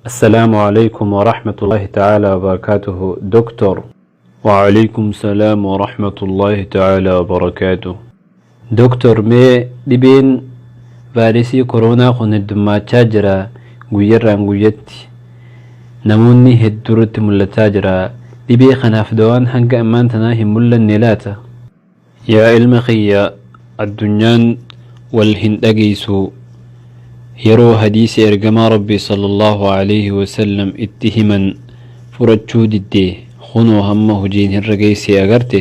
Assalaamu Aleeykum Warahmatullaahi Ta'aalaa Wabarakaatuhu Doktoor. Wa'aleeykum Salaam Warahmatullaahi Ta'aalaa Wabarakaatuhu Doktoor mee dhibeen vaayiresii koroonaa kun heddummaachaa jira guyyarraan guyyatti namoonni hedduurratti mul'ataa jira dhibee kanaaf dawaan hanga ammaan tanaa hin mul'anne laata? Yaa ilma kiyya addunyaan wal hin dhageeysu yeroo hadiisi ergamaa rabbii sallallaahu aleyhi wasallam itti himan fudhachuu didde kunoo hamma hojiin irra geeyse agarte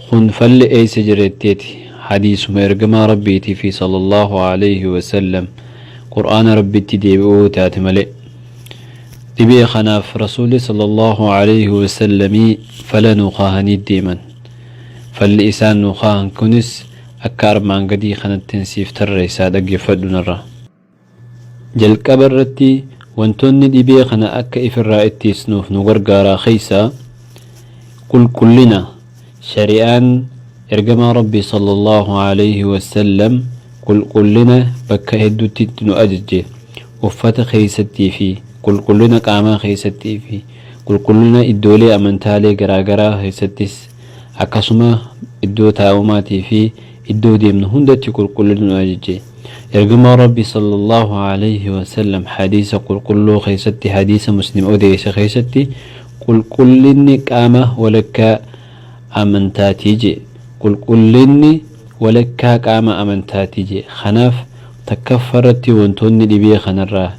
kun falli eeysa jireetteeti hadiisuma ergamaa rabbiiti fi sallallaahu aleyhi wasallam qur'aana rabbitti deebi'uu yoo taate malee dhibee kanaaf rasuulli sallallaahu aleyhi wasallamii fala nuu kaahanii deeman Falli isaan nuu kaahan kunis akka armaan gadii kanattin siif tarreessa dhaggeeffadhu narraa. Jalqaba irratti wantoonni dhibee kana akka ifirraa ittiisnuuf nu gargaaraa keessaa qulqullina shari'aan Ergamaa Rabbii sallallaahu aleeyhi wassallam qulqullina bakka hedduutti itti nu ajajje uffata keessattii fi qulqullina qaamaa keessatti fi Qulqullina iddoolee amantaalee garaagaraa keessattis akkasuma iddoo taa'umaatii fi iddoo deemnu hundatti qulqullina nu ajaje. Ergamaan Rabbii sallallaahu alayhi wa sallam hadiisa qulqulluu keessatti hadiisa Muslim odeesse keessatti Qulqullinni qaama walakkaa amantaati jedhe. Qulqullinni walakkaa qaama amantaati jedhe. Kanaaf takkaffarratti wantoonni dhibee kanarraa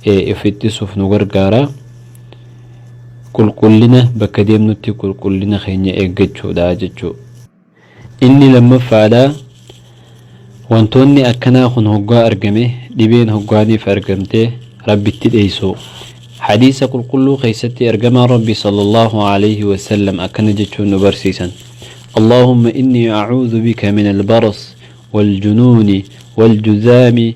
of ittisuuf nu gargaara. Qulqullina bakka deemnutti qulqullina keenya eeggachuudha jechuudha. Inni lammaffaadha wantoonni akkanaa kun hoggaa argame dhibeen hoggaaniif argamte rabbitti dheeysuu. Hadiisa qulqulluu keessatti ergamaan rabbii sallallahu alayhi wa sallam akkana jechuun nu barsiisan Allaahumma innii acuudhu bika min albaras waljunuuni waljuzaami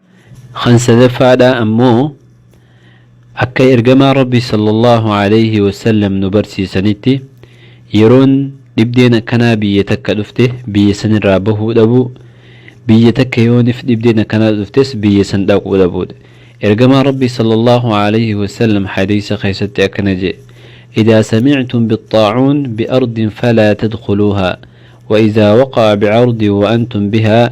Kan sadaffaadhaa ammoo akka ergamaan Rabbii sallallahu alayhi wa sallam nu barsiisanitti yeroon dhibdeen akkanaa biyya takka dhufte biyya sanirraa bahuu dhabuu biyya takka yoonif dhibdeen akkanaa dhuftes biyya san dhaquu dhabuudha. Ergamaan Rabbii sallallahu alayhi wa sallam hadiisa keessatti akkana je'e Idaa samictum bixxaacuun bi'ardin falaa tadkhuluuhaa wa idaa waqa'a bi'ardin wa antum bihaa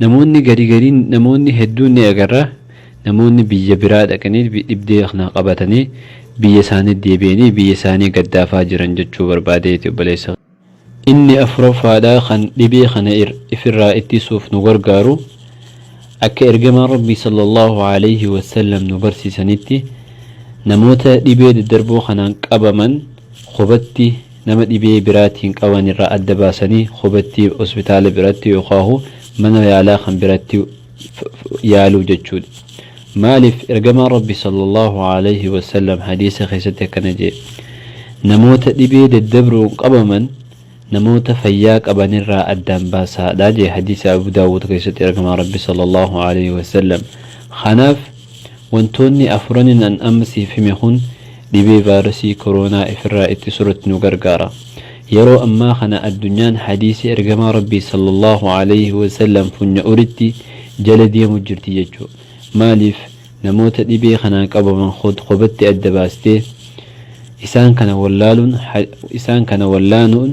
Namoonni gari gari namoonni hedduun ni agarra namoonni biyya biraa dhaqanii dhibdee kana qabatanii biyya isaanii deebi'anii biyya isaanii gaddaafaa jiran jechuu barbaadeeti obboleessa kiyya. Inni afuraffaadhaa kan dhibee kana ifirraa ittisuuf nu gargaaru akka ergamaan Rabbii sallallahu aleyhi wassallam nu barsiisanitti namoota dhibee daddarboo kanaan qabaman kophatti Nama dhibee biraatiin qaban irraa adda baasanii kobatti hospitaala biratti yookaahu mana yaalaa kan biratti yaaluu jechuudha. Maaliif Ergamaan Rabbi sallallaahu aleeyhi wasallam hadiisa keessatti akkana je'e, Namoota dhibee daddabruun qabaman namoota fayyaa qaban irraa addaan baasaadha je'e hadiisa Abuu Daawuud keessatti Ergamaan Rabbi sallallaahu aleeyhi wasallam. Kanaaf. Wantoonni afuranin an amma siif hime kun dhibee vaayirasii koroonaa ifirraa ittisuratti nu gargaara. Yeroo ammaa kana addunyaan hadiisi ergamaa Rabbii sallallaahu aleyhi wasallam funya'uritti jala deemu jirti jechu. Maaliif namoota dhibee kanaan qabaman kod kobatti adda baastee isaan kana wallaaluun isaan kana wallaanuun.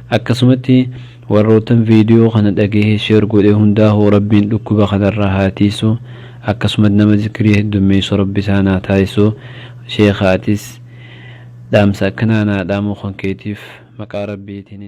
Akkasumatti warroottan video kana dhagahee share godhe hundaahu rabbiin dhukkuba kanarraa haa tiiysu akkasumat nama zikrii heddommeeysu rabbi isaan haa taasisu sheekha atis dhaamsa akkanaa naa dhaamuu kan keetiif maqaa rabbiitiin